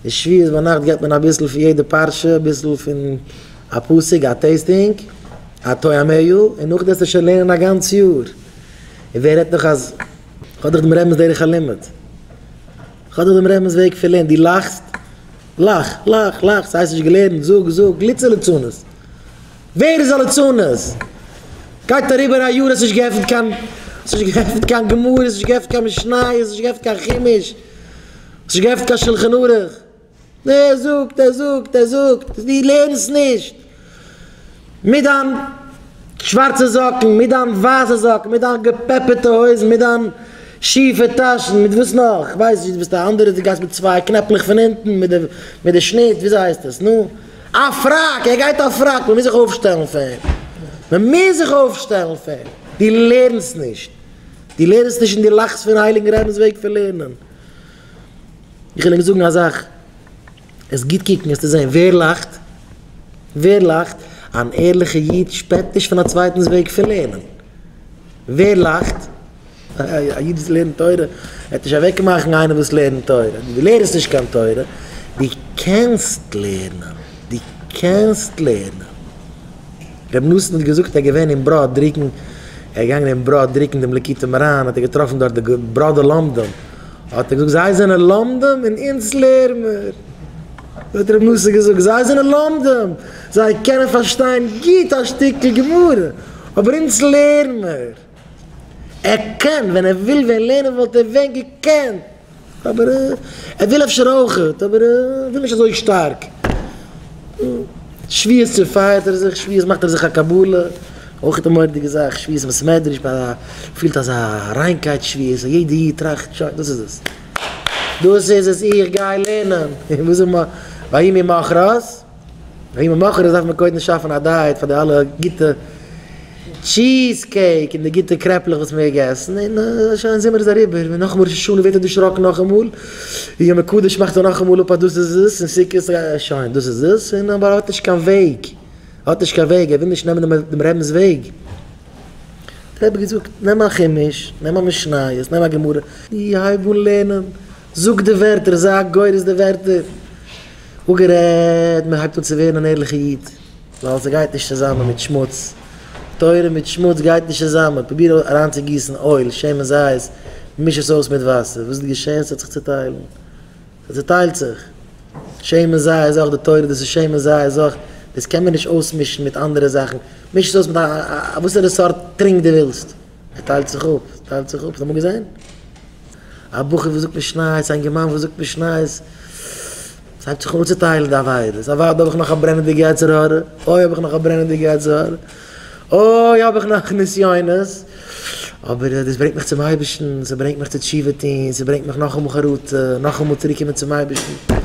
די שביעית ביינאכט געבט מען אביסל פון יעדע פרשה, אביסל פון א פסוק, א טעיסטינג, א טועם ע י, און נאכדעס איז שוין לערנען א גאנץ יאר. און ווער רעדט נאך אז כ'האב דאך דעם רבינ'ס דרך הלימוד. כ'האב דאך דעם רבינ'ס וועג פון לערנען. דו לאכסט? לאך, לאך, לאך, ס'הייסט נישט געלערנט, זאג, זאג, גליטצער ליצנות. ווער איז א ליצנות? גייט אריבער א יאר האסט נישט געעפנט קיין, האסט נישט געעפנט קיין גמרא, האסט נישט געעפנט קיין משניות, האסט נישט געעפנט קיין חומש. האסט נישט געעפנט קיין שלחן ערוך. נע ער זאגט ער זאגט ער זאגט דו לערנסט נישט מיט דיין שווארצע זאקן מיט דיין ווייסע זאקן מיט דיין געפעפערטע הויזן מיט דיין שיפע טאשן מיט וואס נאך איך ווייס נישט דו ביסט א אנדערע דו גייסט מיט צוויי קנעפלעך פון אונטן מיט די מיט די שניט וויאזוי הייסט עס נו א פראק ער גייט א פראק מ'מוז זיך אויפשטעלן פאר אים מ'מוז זיך אויפשטעלן פאר אים דו לערנסט נישט דו לערנסט נישט און דו לאכסט פון הייליגן רבינ'ס וועג פון לערנען. איך וויל אים זאגן א זאך, וועסט גוט קוקן וועסטו זען ווער לאכט, ווער לאכט, אן ערליכע איד שפעט נישט פון א צווייטנס וועג פון לערנען, ווער לאכט, א איד וואס לערנט תורה וועט נישט אוועק מאכן איינעם וואס לערנט תורה, דו לערנסט נישט קיין תורה, דו קענסט לערנען, דו קענסט לערנען. ר' נתן האט געזאגט ער איז געווען אין בראד דריקן, ער איז געגאנגען אין בראד דריקן דעם ליקוטי מוהרן, האט ער געטראפן דארט די בראדער לומדים, האט ער געזאגט זיי זענען לומדים און אונז לערן מיר, האט ר' נתן געזאגט זיי זענען לומדים, זיי קענען פארשטיין גוט א שטיקל גמרא, אבער אונז לערן מיר. ער קען, ווען ער וויל ווען לערנען וואלט ער ווען געקענט, אבער ער וויל אפשר אויכעט, אבער ער וויל נישט אזוי שטארק. שביעות צופייערט ער זיך, שביעות מאכט ער זיך א קבלה, אויכעט א מורא'דיגע זאך, שביעות אין בית מדרש, ביי א פילט אזא ריינקייט שביעות, א יעדע איד טראכט שוין דאס איז עס, דאס איז עס, איך גיי לערנען, און וואס איז מ, ויהי ממחרת. ווי מען מאכט עס דארף מען קודם שאפן א דייעט פאר די אלע גוטע טשיז קעיק און די גוטע קרעפלעך וואס מ'העט געסן, און שוין זומער איז אריבער און נאכן ראש השנה ווערט ער דערשראקן נאכאמאל, און יום הקדוש מאכט ער נאכאמאל אפ אז דאס איז עס, און סוכות שוין דאס איז עס, און אבער ער האט נישט קיין וועג, ער האט נישט קיין וועג, ער וויל נישט נעמען דעם רבינ'ס וועג, האט דער רבי געזאגט נעם א חומש, נעם א משניות, נעם א גמרא, און הייב אן לערנען, זאג די ווערטער, זיי א גורס די ווערטער. אפגערעדט, מען הייבט אן צו ווערן אן ערליכע איד, ווייל ס'גייט נישט צוזאמען מיט שמוץ, תורה מיט שמוץ גייט נישט צוזאמען, פרוביר אריינצוגיסן אויל, שמן זית, מיש עס אויס מיט וואסער, וואס איז געשען? ס'האט זיך צוטיילן, ס'צוטיילט זיך, שמן זית איז אויך די תורה, דאס איז שמן זית איז אויך, דאס קען מען נישט אויסמישן מיט אנדערע זאכן, מיש עס אויס מיט א וואסערע סארט טרינק דו ווילסט. ס'טיילט זיך אפ, ס'טיילט זיך אפ, האסט אמאל געזען א בחור וואס זאגט משניות, א אינגערמאן וואס זאגט משניות, ס'הייבט זיך אן צוטיילן די עבירות, אויב האב איך נאך א ברענעדיגע יצר הרע, אוי האב איך נאך א ברענעדיגע יצר הרע, אוי האב איך נאך נסיונות, אבער דאס ברענגט מיך צום אייבערשטן, ס'ברענגט מיך צו תשובה טון, ס'ברענגט מיך נאכאמאל חרטה, נאכאמאל צוריק קומען צום אייבערשטן.